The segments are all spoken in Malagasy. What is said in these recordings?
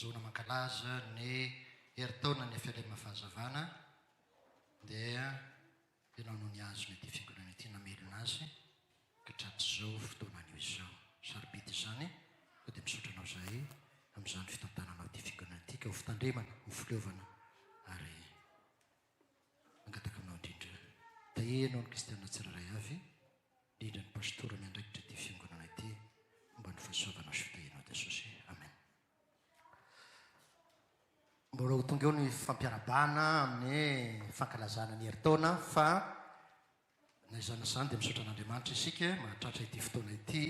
Zona mankalaza ny herintaonan'ny Felem Fahazavana dia ianao no nihazona ity fiangonana ity namelona azy katratrizao fotoana anio izao. Sarobidy izany koa dia misaotra anao zahay amin'izany fitantananao ity fiangonana ity ka ho fitandremana, ho fileovana ary. Mangataka aminao indrindra, taia ianao ny kristiana tsirairay avy, indrindra ny pastora miandraikitra ity fiangonana ity, homba ny fahasoavana soa tahianao Jesosy. Amen. Mbola ho tonga eo ny fampiarabana amin'ny fankalazana ny herintaona fa na izany izany dia misaotra an'Andriamanitra isika mahatratra ity fotoana ity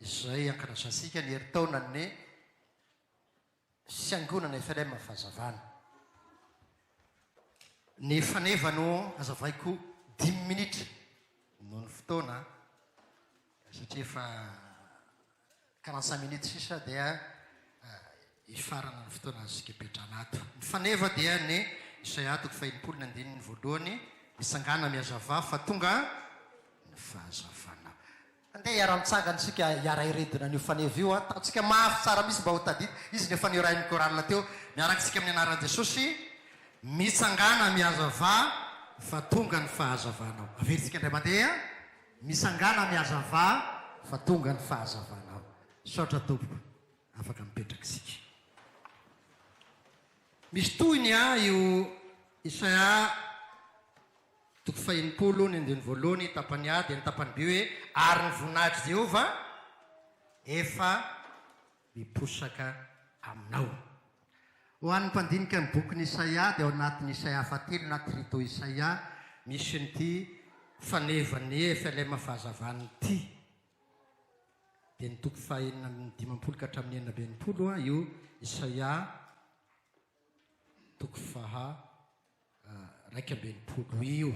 izay ankalazantsika ny herintaonan'ny Fiangonana FLM Fahazavana. Ny faneva no hazavaiko dimy minitra noho ny fotoana satria efa quarante cinq minutes sisa dia hifarana ny fotoana azo kepetrana ato. Ny faneva dia ny Isaia toko fahenimpolo ny andininy voalohany, Mitsangàna mihazavà fa tonga ny fahazavana. Andeha hiara-mitsangana isika hiara-hiredona an'io faneva io an! Tatsika mafy tsara mihitsy mba ho tadidiko. Izy no efa niorahin'ny chorale teo. Miaraka isika amin'ny anaran'i Jesosy mitsangana mihazava fa tonga ny fahazavanao. Averintsika indray mandeha, Mitsangana mihazava fa tonga ny fahazavanao. Misaotra Tompoko, afaka mipetraka isika. Misy tohiny an io Isaia. Toko fahenimpolo, ny andininy voalohany, tapany A dia ny tapany B hoe, Ary ny voninahitr'i Jehovah efa miposaka aminao. Ho an'ny mpandinika ny bokin'i Isaia, dia ao anatin'i Isaia fahatelo na Trito Isaia, misy an'ity fanevan'i FLM fahazavana ity. Dia ny toko fahenina amby dimampolo ka hatramin'ny enina amby enimpolo io Isaia, toko faha. iraika amby enimpolo io.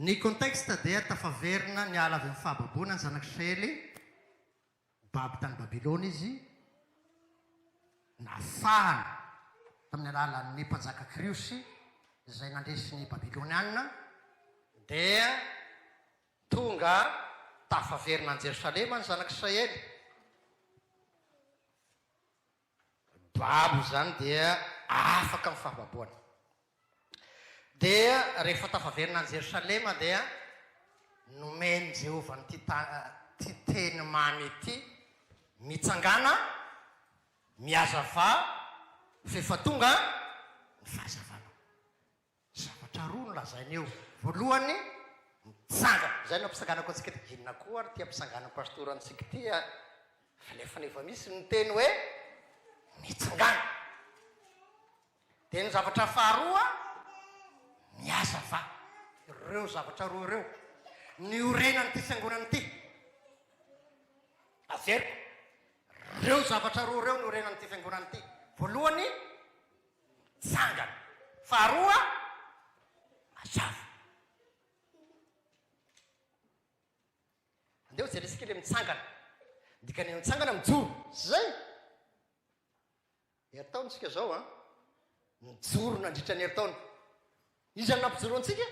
Ny contexte dia tafaverina niala avy amin'ny fahababoana ny zanak'Israely, babo tany Babylona izy, nafahana tamin'ny alalan'ny mpanjaka Kriosy izay nandresy ny Babylonianina, dia tonga tafaverina any Jerosalema ny zanak'Israely. babo izany dia afaka ny fahababoana. Dia rehefa tafaverina any Jerosalema dia nomen'i Jehovah an'ity ity teny mamy ity, Mitsangàna, mihazavà, f'efa tonga ny fahazavanao. Zavatra roa no lazainy eo. Voalohany, mitsangana. Izay no ampisanganako antsika eto. Inona koa ary ity ampisanganan'ny pastora antsika ity a? Fa nefa efa misy ny teny hoe mitsangana. Dia ny zavatra faharoa, mihazava. Ireo zavatra roa ireo niorenan'ity fiangonana ity. Averiko, ireo zavatra roa ireo niorenan'ity fiangonana ity. Voalohany, Mitsangana. Faharoa, mazava. Andeha hojerentsika ilay mitsangana. Ny dikan'ilay mitsangana, mijoro. Tsy izay? Herintaonantsika izao an. Nijoro nandritra ny herintaona. Iza no nampijoro antsika?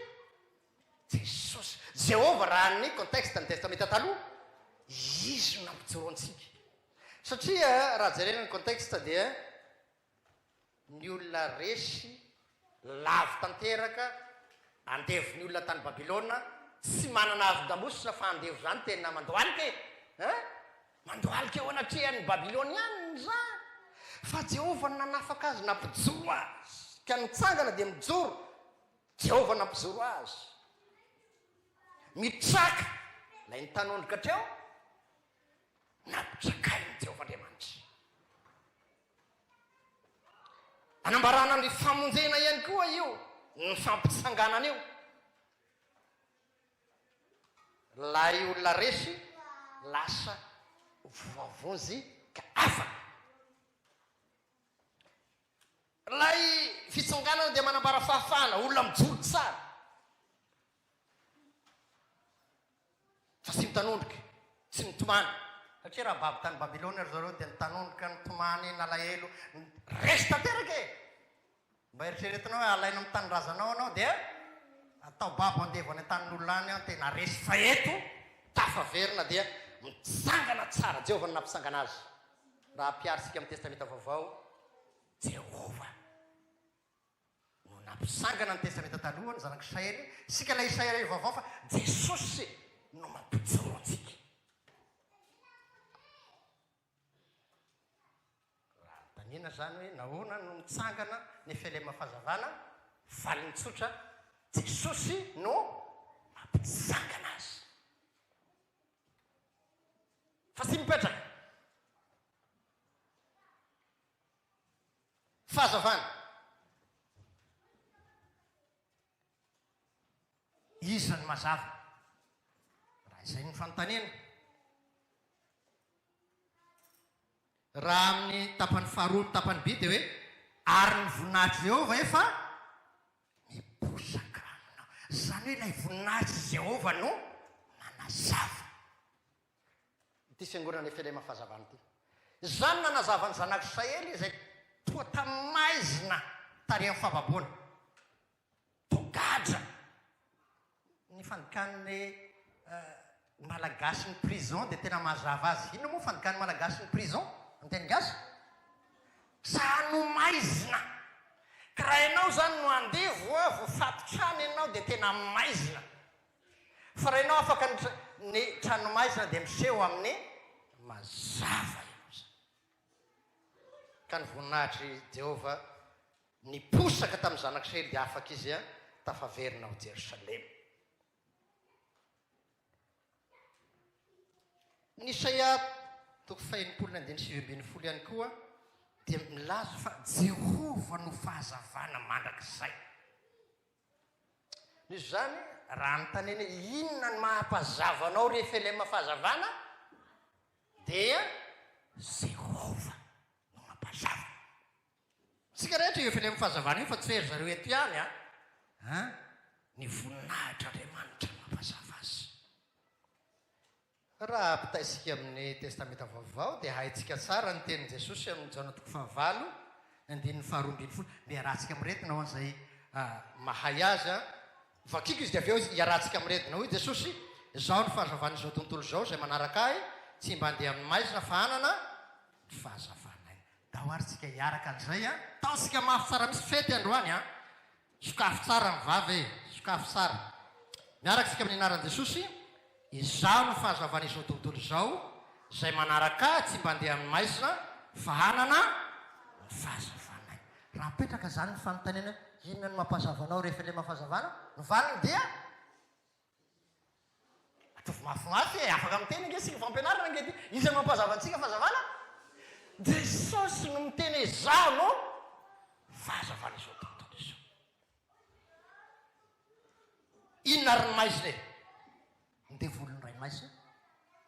Jesosy. Jehovah raha ny contexte ny Testamenta Taloha. Izy no nampijoro antsika. Satria raha jerena ny contexte dia. Ny olona resy lavo tanteraka andevon'ny olona tany Babylona tsy manana havon-damosina fa andevo zany tena mandohalika e! Hein? Mandohalika eo anatrehan'ny Babylonianina izany fa Jehovah no nanafaka azy nampijoro azy ka nitsangana dia mijoro Jehovah nampijoro azy. Mitraka ilay nitanondrika treo nampitsakain'i Jehovah Andriamanitra. Anambarana ny famonjena ihany koa io ny fampitsanganana io. Ilay olona resy lasa voavonjy ka afaka. Ilay fitsanganana dia manambara fahafahana, olona mijoro tsara. Fa tsy nitanondrika, tsy nitomany, satria raha babo tany Babylona ry zareo dia nitanondrika, nitomany, nalahelo, resy tanteraka e! Mba eritreretinao hoe alaina amin'ny tanindrazanao ianao dia atao babo andevo any an-tanin'olona any an, tena resy, fa eto tafaverina dia mitsangana tsara, Jehovah no nampisangana azy, raha ampiharintsika amin'ny Testamenta Vaovao, Jehovah. no nampisangana ny Testamenta Taloha, ny Zanak'Israely, isika ilay Israely vaovao fa Jesosy no mampijoro antsika. Raha anontaniana izany hoe nahoana no nitsangana Nefelema Fahazavana, valiny tsotra, Jesosy no mampisangana azy. Fa tsy mipetraka. Fahazavana. Iza no mazava? Raha izay no fanontaniana. Raha amin'ny tapany faharoa ny tapany B dia hoe, Ary ny voninahitr'i Jehovah efa miposaka aminao. Izany hoe ilay voninahitr'i Jehovah no manazava. ity fiangonana FLM Fahazavana ity. Izany nanazava ny zanak'Israely izay toa tamin'ny maizina tarihan'ny fahababoana. Toa gadra ny fandikan'ny Malagasy ny prison dia tena mazava azy. Inona moa fandikan'ny Malagasy ny prison amin'ny teny gasy? Saha no maizina. Ka raha ianao izany no andevo, voafatotr'any ianao dia tena maizina. Fa rainao afaka ny ny tranomaizina dia miseho amin'ny mazava ianao izany. Ka ny voninahitr'i Jehovah niposaka tamin'ny Zanak'Israely dia afaka izy tafaverina ao Jerosalema. Ny Isaia toko fahenimpolo ny andininy sivy ambin'ny folo ihany koa dia milaza fa Jehovah no fahazavana mandrakizay. Misy izany raha anontaniana hoe inona ny maha mpazava anao ry FLM Fahazavana dia Jehovah no mampazava. Isika rehetra io FLM Fahazavana io fa tsy hoe ry zareo eto ihany an! An! Ny voninahitr'Andriamanitra no mampazava azy. Raha ampitahaisika amin' ny Testamenta Vaovao, dia haintsika tsara ny tenin' Jesosy amin' ny Jaona toko fahavalo, andininy faharoa ambin'ny folo. Mba iarahantsika miretina hoan' izay mahay azy an. Vakiko izy dia avy eo iarahantsika miretina. Hoy Jesosy, Izao ny fahazavan' izao tontolo izao, izay manaraka Ahy, tsy himbandeha amin' ny maizina, fa hanana ny fahazavan' Aina. Andao ary tsika hiaraka an' izay an. Tahotsika mafy tsara mihitsy fety androany an. Sokafy tsara ny vava e! Sokafy tsara. Miaraka isika amin'ny anaran'i Jesosy, izaho no fahazavan'izao tontolo izao, izay manaraka ahy tsy mba andeha amin'ny maizina fa hanana ny fahazavanay. Raha apetraka izany ny fanontaniana hoe inona no mampahazava anao rehefa ilay mampahazavana? Ny valiny dia. Ataovy mafimafy e! Afaka miteny ange isika, fampianarana ange ity. Iza no mampazava antsika fahazavana? Jesosy no miteny hoe Izaho no fahazavan'izao tontolo izao. Inona ary ny maizina e? Ny devoly no ray maizina,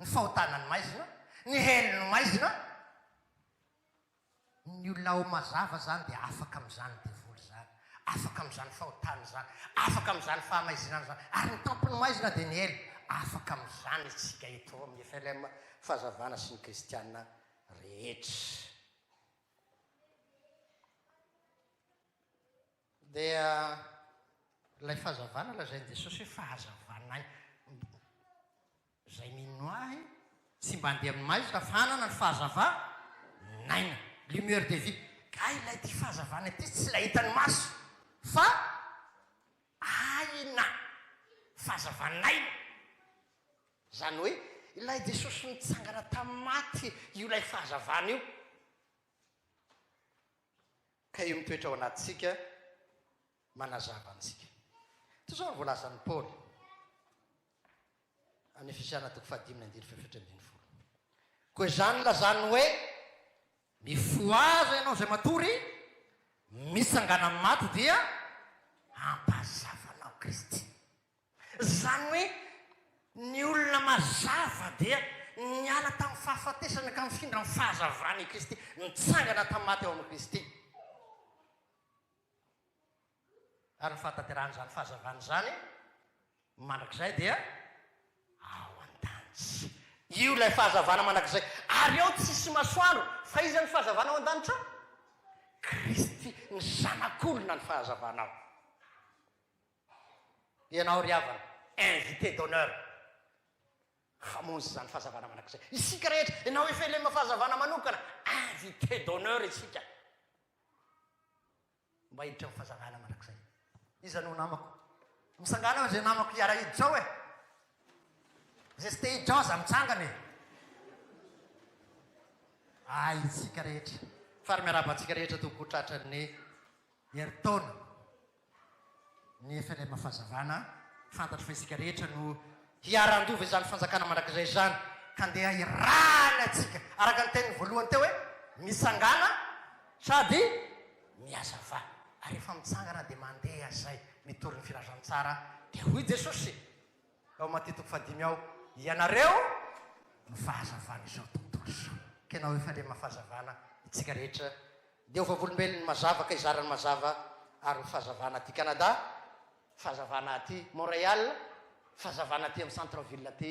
ny fahotana ny maizina, ny hell no maizina, Ny olona ao mazava zany dia afaka amin'izany devoly izany, afaka amin'izany fahotana izany, afaka amin'izany fahamaizinana izany, ary ny tampon'ny maizina dia ny hell, afaka amin'izany isika eto ao amin'ny FLM Fahazavana sy ny kristiana rehetra. Dia ilay fahazavana lazain'i Jesosy hoe fahazavanay. Izay mino ahy tsy mba andeha amin'ny maizina fa hanana ny fahazava naina, lumière de vie. Ka ilay ity fahazavana ity tsy ilay hitan'ny maso fa aina, fahazavanaina. Izany hoe ilay Jesosy nitsangana tamin'ny maty io ilay fahazavana io. Ka io mitoetra ao anatintsika. Manazava antsika. Toy izao no voalazan'i Paoly amin'ny Efesiana toko fahadimy andininy fahefatra ambin'ny folo, Koa izany lazany hoe, Mifohaza ianao izay matory mitsangana amin'ny maty dia ampahazavanao Kristy. Izany hoe ny olona mazava dia niala tamin'ny fahafatesana ka mifindra amin'ny fahazavana i Kristy, nitsangana tamin'ny maty ao amin'i Kristy. Ary ny fahatanterahana izany fahazavana izany mandrakizay dia ao an-danitra. Io ilay fahazavana mandrakizay. Ary ao tsisy masoandro. Fa iza ny fahazavana ao an-danitra? Kristy, ny Zanak'olona ny fahazavana ao. Ianao ry havana, invité d'honneur hamonjy izany fahazavana mandrakizay. Isika rehetra, ianao efa ilay fahazavana manokana, invité d'honneur isika. Mba hiditra amin'ny fahazavana mandrakizay. Iza no namako? Misangana ao izay namako hiara-hiditra ao e! Izay tsy te hiditra ao aza mitsangana e! Ahintsika rehetra. Fary miarahaba antsika rehetra tompoko tratran'ny herintaona. nefa ilay mafazavana fantatro fa isika rehetra no hiara-handova izany fanjakana mandrakizay izany ka ndeha hirahana isika araka ny tenin'ny voalohany teo hoe misangana sady mihazava ary rehefa mitsangana dia mandeha izay mitory ny filazantsara dia hoy Jesosy Tao Matia toko fahadimy ao, ianareo no fahazavan'izao tontolo izao. Kenao efa le maha fahazavana itsika rehetra, dia ho vavolombelon'ny mazava ka hizara ny mazava ary ho fahazavana aty Canada, fahazavana aty Montreal, fahazavana aty amin'ny centre ville aty.